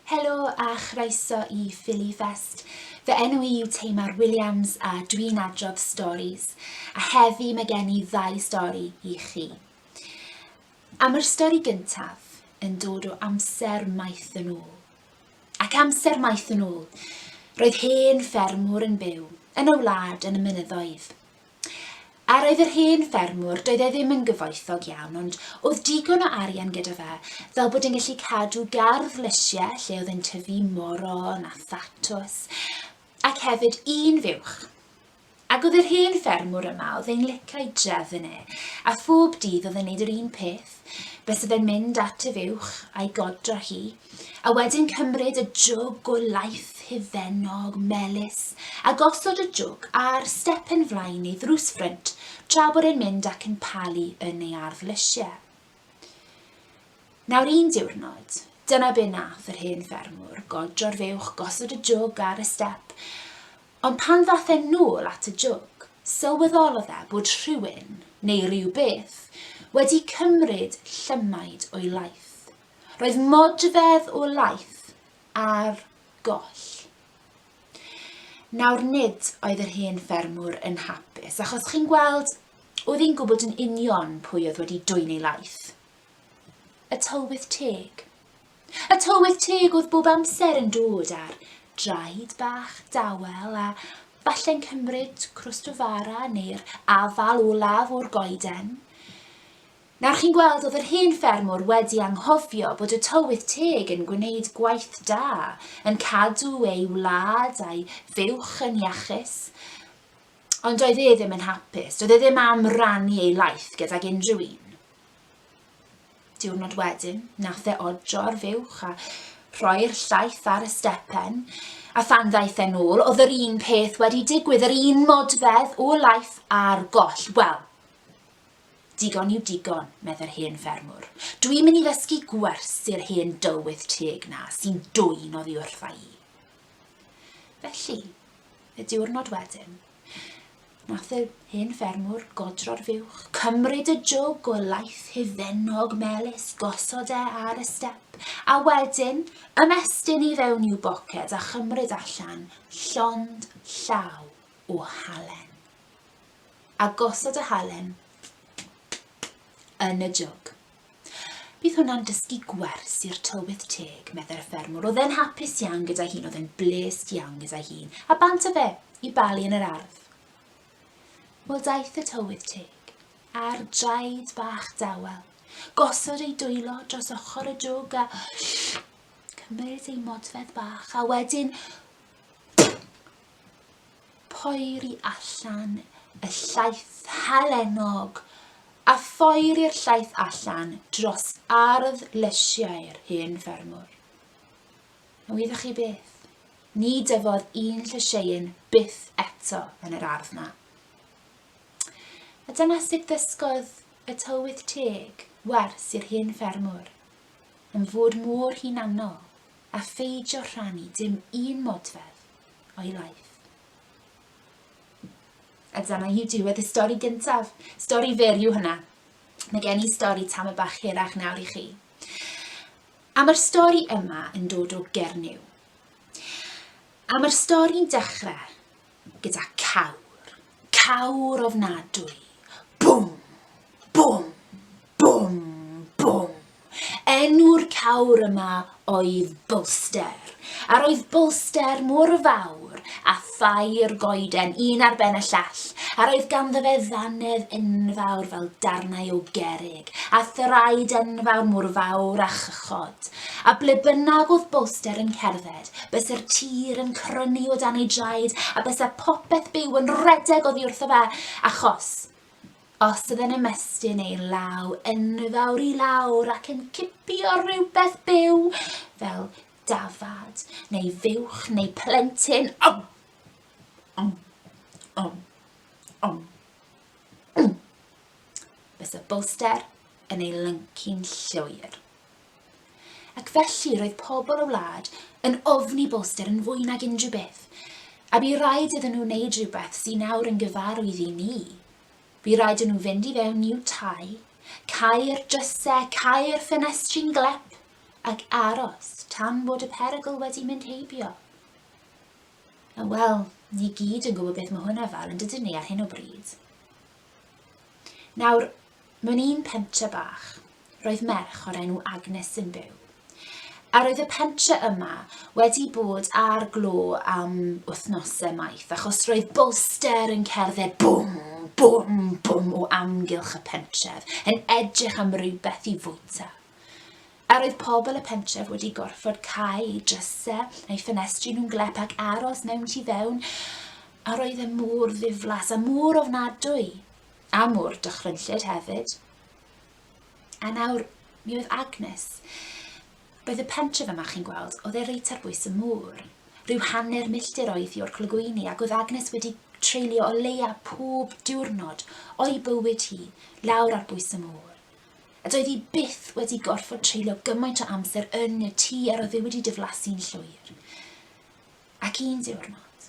Helo a chroeso i Philly Fest. Fy enw i yw Tamar Williams a dwi'n adrodd storis, a heddi mae gen i ddau stori i chi. Am yr stori gyntaf yn dod o amser maith yn ôl. Ac amser maith yn ôl, roedd hen ffermwr yn byw yn y wlad yn y mynyddoedd. A roedd yr hen ffermwr, doedd e ddim yn gyfoethog iawn, ond oedd digon o arian gyda fe, fel bod yn gallu cadw gardd lysiau lle oedd yn tyfu moron a thatws, ac hefyd un fuwch. Ac oedd yr hen ffermwr yma, oedd e'n licio ei drefn e, a phob dydd oedd e'n neud yr un peth, byse fe'n mynd at y fuwch, a'i godro hi, a wedyn cymryd y jwg o laeth hufennog, melys, a gosod y jwg ar stepen flaen ei ddrws ffrynt, tra bod e'n mynd ac yn palu yn ei ardd lysie. Nawr un diwrnod, dyna be nath yr hen ffermwr, godro'r fuwch, gosod y jwg ar y step, Ond pan ddaeth e'n nôl at y jwg, sylweddolodd e bod rhywun, neu rywbeth, wedi cymryd llymaid o'i laeth. Roedd modfedd o laeth ar goll. Nawr nid oedd yr hen ffermwr yn hapus, achos chi'n gweld, oedd hi'n gwybod yn union pwy oedd wedi dwyn ei laeth. Y tylwyth teg. A tywydd teg oedd bob amser yn dod ar draed bach dawel a falle'n cymryd crwst o fara neu'r afal olaf o'r goeden. Nawr chi'n gweld oedd yr hen ffermwr wedi anghofio bod y tywydd teg yn gwneud gwaith da, yn cadw ei wlad a'i fuwch yn iachus, ond doedd e ddim yn hapus, doedd e ddim am rannu ei laeth gydag unrhyw un. Diwrnod wedyn, nath e odro ar fuwch a rhoi'r llaeth ar y stepen, a phan ddaeth e'n ôl, oedd yr un peth wedi digwydd, yr un modfedd o laeth ar goll. Wel, digon yw digon, meddai'r hen ffermwr. Dwi'n mynd i ddysgu gwers i'r hen dywydd teg na, sy'n dwyn oddi wrtha i. Felly, y diwrnod wedyn, Nath yr hen ffermwr godro'r fuwch, cymryd y jwg o laeth hufennog melys, gosod e ar y step, a wedyn ymestyn i fewn i'w boced a chymryd allan llond llaw o halen. A gosod y halen yn y jwg. Bydd hwnna'n dysgu gwers i'r tylwyth teg, meddai'r ffermwr. Oedd e'n hapus iawn gyda hun, oedd e'n blês iawn gyda hun. A bant o fe, i balu yn yr ardd. Wel daeth y tylwyth teg, a'r draed bach dawel, gosod ei dwylo dros ochr y jwg a cymryd ei modfedd bach, a wedyn Poeri allan y llaeth halennog, a phoeri'r llaeth allan dros ardd lysiau'r hen ffermwr. A wyddoch chi beth? Ni dyfodd un llysieuyn byth eto yn yr ardd na. A dyna sut ddysgodd y tywydd teg wers i'r hen ffermwr yn fod mor hunanol a pheidio rhannu dim un modfedd o'i laeth. A dyna yw diwedd y stori gyntaf. Stori fer yw hynna. Mae gen i stori tam y bach hirach nawr i chi. A mae'r stori yma yn dod o Gernyw. A mae'r stori'n dechrau gyda cawr. Cawr ofnadwy. Bwm! Bwm! Bwm! Bwm! Enw'r cawr yma oedd Bwlster, a roedd Bwlster mor fawr a thair goeden un ar ben y llall, a roedd ganddo fe ddannedd enfawr fel darnau o gerrig, a thraed enfawr mor fawr a chychod. A ble bynnag oedd Bwlster yn cerdded, Byse'r tir yn crynu o dan ei draed, a byse popeth byw yn rhedeg oddi wrtho fe, achos os oedd e'n ymestyn ei law enfawr i lawr ac yn cipio rhywbeth byw, fel dafad, neu fuwch, neu plentyn, om, om, om, om, om, byse Bolster yn ei lyncu'n llwyr. Ac felly roedd pobl y wlad yn ofni Bolster yn fwy nag unrhyw beth, a bu raid iddyn nhw wneud rhywbeth sy'n nawr yn gyfarwydd i ni. Bu raid i nhw fynd i fewn i'w tai, cau'r drysau, cau'r ffenestri'n glep, ac aros tan bod y perygl wedi mynd heibio. A wel, ni gyd yn gwybod beth mae hwnna fel yn dydyn ni ar hyn o bryd. Nawr, Mewn un pentre bach, roedd merch o'r enw Agnes yn byw. A roedd y pentre yma wedi bod ar glo am wythnosau maith, achos roedd bolster yn cerdded bwm, bwm, bwm o amgylch y pentref, yn edrych am rywbeth i fwyta. A roedd pobl y pentref wedi gorfod cael eu drysau a'i ffenestri nhw'n glep ac aros mewn tu fewn, a roedd e mor ddiflas a mor ofnadwy. A mor dychrynllyd hefyd. A nawr, mi oedd Agnes. Roedd y pentref yma, chi'n gweld, oedd e reit ar bwys y môr. Rhyw hanner milltir oedd hi o'r clogwyni ac oedd Agnes wedi treulio o leia pob diwrnod o'i bywyd hi lawr ar bwys y môr. A doedd hi byth wedi gorfod treulio gymaint o amser yn y tŷ ar oedd e wedi diflasu'n llwyr. Ac un diwrnod,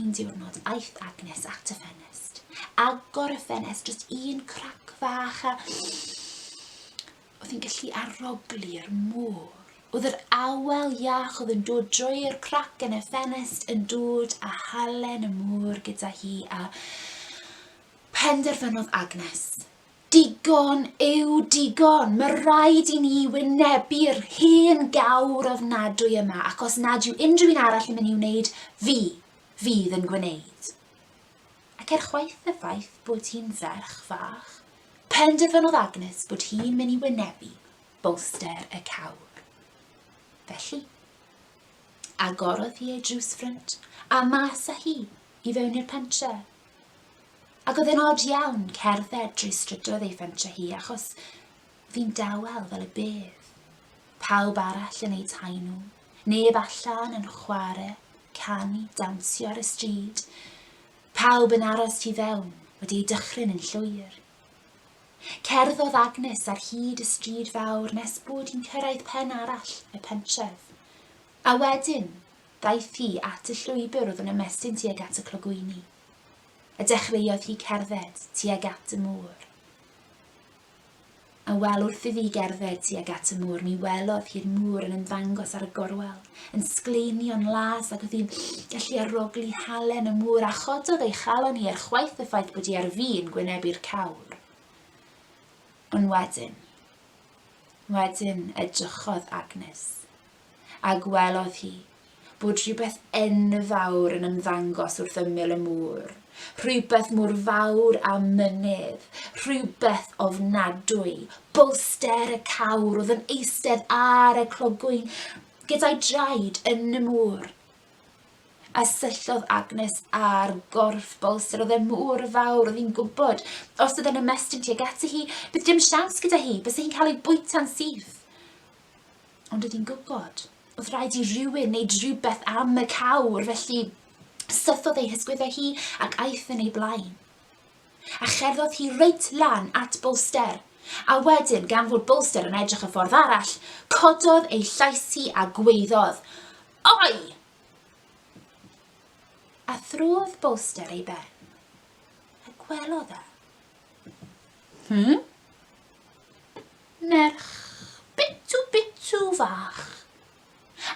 un diwrnod, aeth Agnes at y ffenest. Agor y ffenest, just un crac fach a... Oedd hi'n gallu aroglu'r môr. Oedd yr awel iach oedd yn dod drwy'r crac yn y ffenest yn dod a halen y môr gyda hi a penderfynodd Agnes Digon yw digon! Mae rhaid i ni wynebu'r hen gawr ofnadwy yma ac os nad yw unrhyw un arall yn mynd i wneud, fi fydd yn gwneud. Ac er chwaith y ffaith bod hi'n ferch fach, penderfynodd Agnes bod hi'n mynd i wynebu bolster y cawr. Felly, agorodd hi ei drws ffrynt a mas â hi i fewn i'r pentre. Ac oedd e'n od iawn cerdded drwy strydoedd ei fentre hi achos fi'n dawel fel y bydd. Pawb arall yn eu tai nhw. Neb allan yn chwarae, canu, dawnsio ar y stryd. Pawb yn aros tu fewn, wedi ei dychryn yn llwyr. Cerddodd Agnes ar hyd y stryd fawr nes bod hi'n cyrraedd pen arall y pentref. A wedyn, Daeth hi at y llwybr oedd yn ymestyn tuag at y clogwyni, a dechreuodd hi cerdded tuag at y môr. A wel, wrth iddi gerdded tuag at y môr, mi welodd hi'r môr yn ymddangos ar y gorwel, yn sgleinio'n las ac oedd hi'n gallu arogli halen y môr a chododd ei chalon hi er chwaith y ffaith bod hi ar fin gwynebu'r cawr. Ond wedyn, wedyn edrychodd Agnes a gwelodd hi bod rhywbeth enfawr yn ymddangos wrth ymyl y môr, rhywbeth mor fawr a mynydd, rhywbeth ofnadwy, bolster y cawr oedd yn eistedd ar y clogwyn gyda'i draed yn y môr a syllodd Agnes ar gorff bolster oedd e mor fawr oedd hi'n gwybod os oedd e'n ymestyn tuag ati hi, bydd dim siawns gyda hi, bys hi'n cael ei bwyta'n syth. Ond oedd hi'n gwybod. Oedd rhaid i rywun wneud rhywbeth am y cawr, felly sythodd ei hysgwyddau hi ac aeth yn ei blaen. A cherddodd hi reit lan at Bolster, a wedyn, gan fod Bolster yn edrych y ffordd arall, cododd ei llais hi a gweiddodd, Oi! A throdd Bolster ei ben, a gwelodd e. Hmm? Merch bitw bitw fach.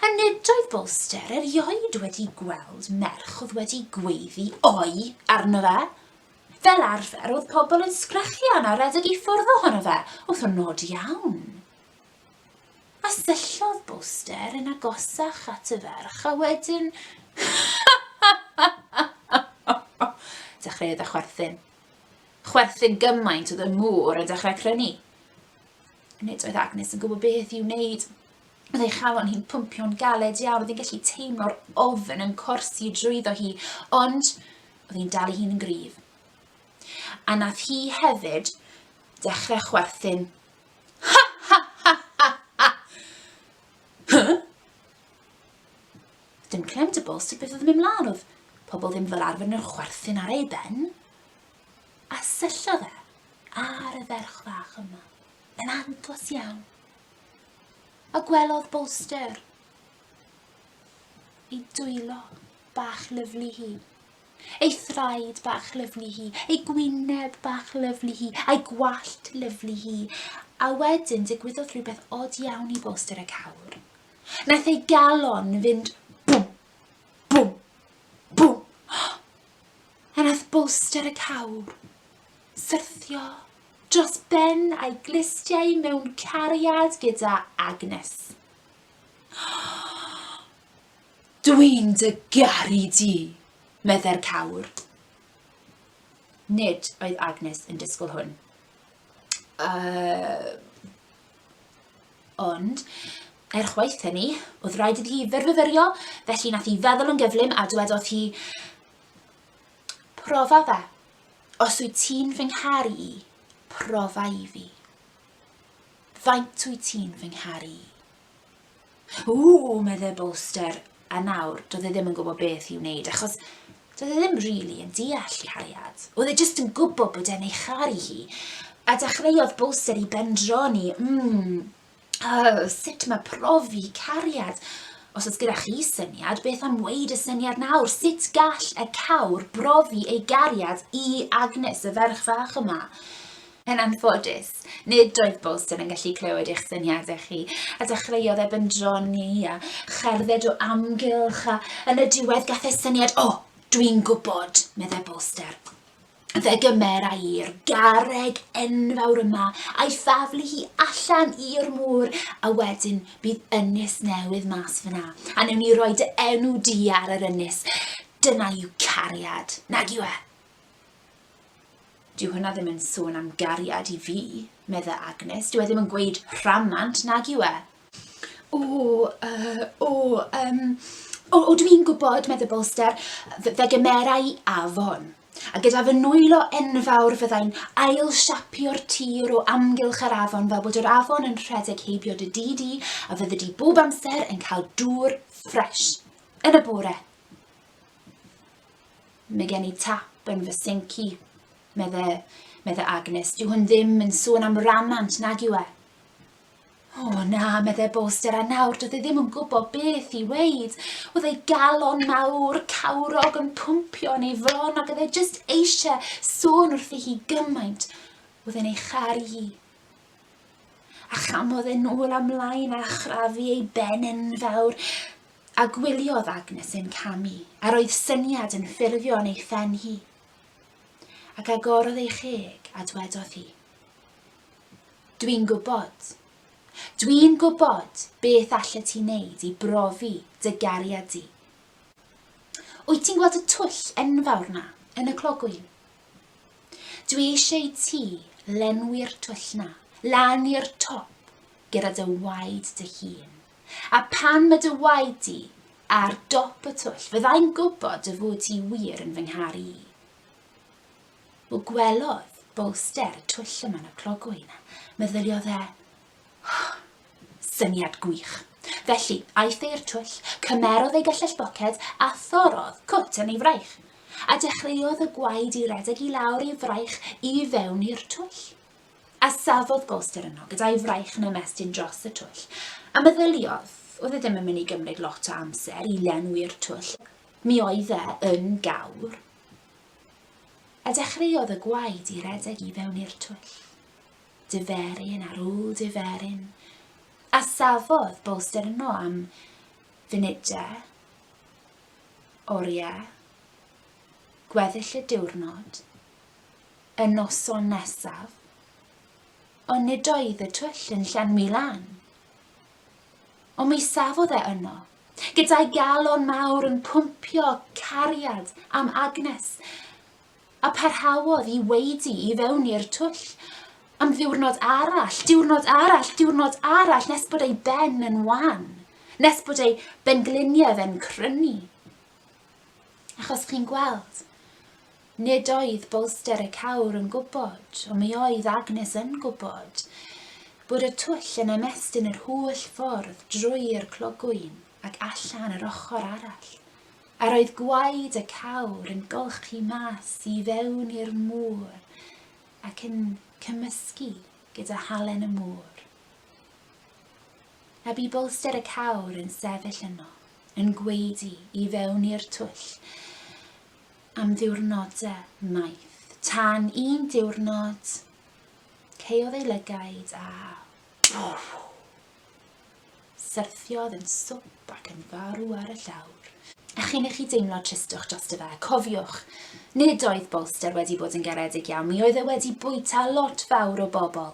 A nid oedd Bolster erioed wedi gweld merch oedd wedi gweiddi 'oi' arno fe. Fel arfer, oedd pobl yn sgrechian a redeg i ffwrdd ohono fe wrth o nod iawn. A syllodd Bolster yn agosach at y ferch a wedyn... Dechreuodd e chwerthin. Chwerthin gymaint oedd y môr yn dechrau crynu. Nid oedd Agnes yn gwybod beth i'w wneud. Oedd ei chalon hi'n pwmpio'n galed iawn, oedd hi'n gallu teimlo'r ofn yn corsi drwyddo hi, ond oedd hi'n dal i hun yn gryf. A nath hi hefyd dechrau chwerthin. Ha ha ha ha ha! Huh? Dim clem dy bol sut beth oedd yn mynd mlaen, oedd pobl ddim fel arfer yn chwerthin ar ei ben. A syllo fe ar y ferch fach yma, yn andlos iawn. A gwelodd Bolster ei dwylo bach lyflu hi, ei thraed bach lyflu hi, ei gwyneb bach lyflu hi, a'i gwallt lyflu hi. A wedyn digwyddodd rhywbeth od iawn i Bolster y cawr. Nath ei galon fynd bwm, bwm, bwm. A nath bolster y cawr syrthio dros ben a'i glustiau mewn cariad gyda Agnes. Dwi'n dy garu di, meddai'r cawr. Nid oedd Agnes yn disgwyl hwn. Uh, Ond, er chwaith hynny, oedd rhaid iddi hi fyrfyfyrio, felly nath hi feddwl yn gyflym a dwedodd hi, Profa fe. Os wyt ti'n fy ngharu i, profa i fi. Faint wyt ti'n fy ngharu i? Ww! meddai Bolster, a nawr doedd e ddim yn gwybod beth i'w wneud, achos doedd e ddim rili yn deall cariad. Oedd e jyst yn gwybod bod e'n ei charu hi, a dechreuodd Bolster i bendroni, mm, oh, sut mae profi cariad? Os oes gyda chi syniad, beth am weid y syniad nawr? Sut gall y cawr brofi ei gariad i Agnes, y ferch fach yma? Yn anffodus, nid oedd Bolson yn gallu clywed eich syniadau chi, a dechreuodd e bendroni a cherdded o amgylch, a yn y diwedd gath e syniad, O, dwi'n gwybod, meddai Bolster. Fe gymera i'r garreg enfawr yma a'i thaflu hi allan i'r môr, a wedyn bydd ynys newydd mas fyna, a newn ni roi dy enw di ar yr ynys. Dyna yw cariad, nag yw e? Dyw hwnna ddim yn sôn am gariad i fi, medda Agnes. Dyw e ddim yn gweud rhamant, nag yw e? O, uh, o, um, o, o dwi'n gwybod, medda Bolster, fe gymerau afon. A gyda fy nwylo enfawr fyddai'n ail siapio'r tir o amgylch yr afon fel bod yr afon yn rhedeg heibio dy di di a fyddi di bob amser yn cael dŵr ffres yn y bore. Mae gen i tap yn fy sinc i, medde, medde Agnes. Dyw hwn ddim yn sôn am rannant, nag yw e? O oh, na, medde Boster, a nawr doedd e ddim yn gwybod beth i weid. Oedd ei galon mawr, cawrog yn pwmpio yn ei fron ac oedd e jyst eisiau sôn wrthi hi gymaint. Oedd e'n ei charu hi. A chamodd e nôl amlaen a chrafu ei ben enfawr. A gwyliodd Agnes ein camu, a roedd syniad yn ffurfio yn ei phen hi. Ac agorodd ei cheg, a dwedodd hi, Dwi'n gwybod. Dwi'n gwybod beth allet ti wneud i brofi dy gariad di. Wyt ti'n gweld y twll enfawr na, yn y clogwyn? Dwi eisiau i ti lenwi'r twll na, lan i'r top, gyda dy waed dy hun. A phan mae dy waed di ar dop y twll, fyddai'n gwybod dy fod ti wir yn fy nghar i. Wel, gwelodd Bolster y twll yma yn y clogwy na. Meddyliodd e, oh, syniad gwych. Felly, aeth e i'r twll, cymerodd ei gyllell boced a thorodd cwt yn ei fraich. A dechreuodd y gwaed i redeg i lawr ei fraich i fewn i'r twll. A safodd Bolster yno gyda'i fraich yn ymestyn dros y twll, a meddyliodd, oedd e ddim yn mynd i gymryd lot o amser i lenwi'r twll, mi oedd e yn gawr. A dechreuodd y gwaed i redeg i fewn i'r twll. Diferyn ar ôl diferyn, a safodd Bolster yno am funudau, oriau, gweddill y diwrnod, Y noson nesaf, ond nid oedd y twll yn llenwi lan. Ond mi safodd e yno, gyda'i galon mawr yn pwmpio cariad am Agnes, a parhaodd i weidi i fewn i'r twll am ddiwrnod arall, diwrnod arall, diwrnod arall, nes bod ei ben yn wan, nes bod ei bengliniau fe'n crynu, Achos chi'n gweld, nid oedd bolster y cawr yn gwybod, ond mi oedd Agnes yn gwybod, bod y twll yn ymestyn yr holl ffordd drwy'r clogwyn ac allan yr ochr arall, a roedd gwaed y cawr yn golchi mas i fewn i'r môr ac yn cymysgu gyda halen y môr. a bu bolster y cawr yn sefyll yno, yn gwaedu i fewn i'r twll am ddiwrnodau maith, tan un diwrnod, caeodd ei lygaid a syrthiodd yn swp ac yn farw ar y llawr. A chyn i chi deimlo tristwch drosto fe, cofiwch, nid oedd bolster wedi bod yn garedig iawn, mi oedd e wedi bwyta lot fawr o bobl.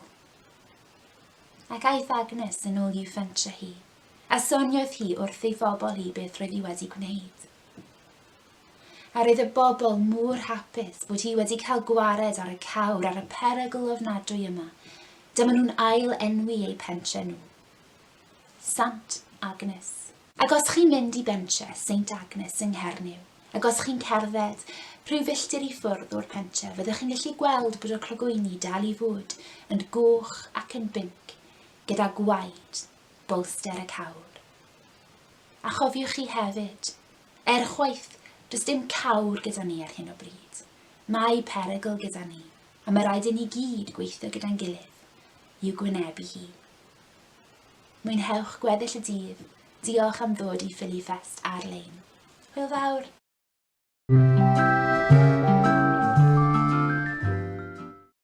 Ac aeth Agnes yn ôl i'w fentre hi, a soniodd hi wrth ei phobl hi beth roedd hi wedi gwneud. A roedd y bobl mor hapus bod hi wedi cael gwared ar y cawr ar y perygl ofnadwy yma. Dyma nhw'n ail enwi eu pentre nhw. Sant Agnes. Ac os chi'n mynd i bentre Saint Agnes yng Nghernyw, ac os chi'n cerdded rhyw filltir i ffwrdd o'r pentre fyddwch chi'n gallu gweld bod y clogwyni dal i fod yn goch ac yn binc gyda gwaed bolster y cawr. A chofiwch chi hefyd, er chwaith, does dim cawr gyda ni ar hyn o bryd. Mae perygl gyda ni, a mae rhaid i ni gyd gweithio gyda'n gilydd i'w gwynebu hi. Mwynhewch gweddill y dydd, diolch am ddod i Philly Fest ar-lein. Hwyl fawr!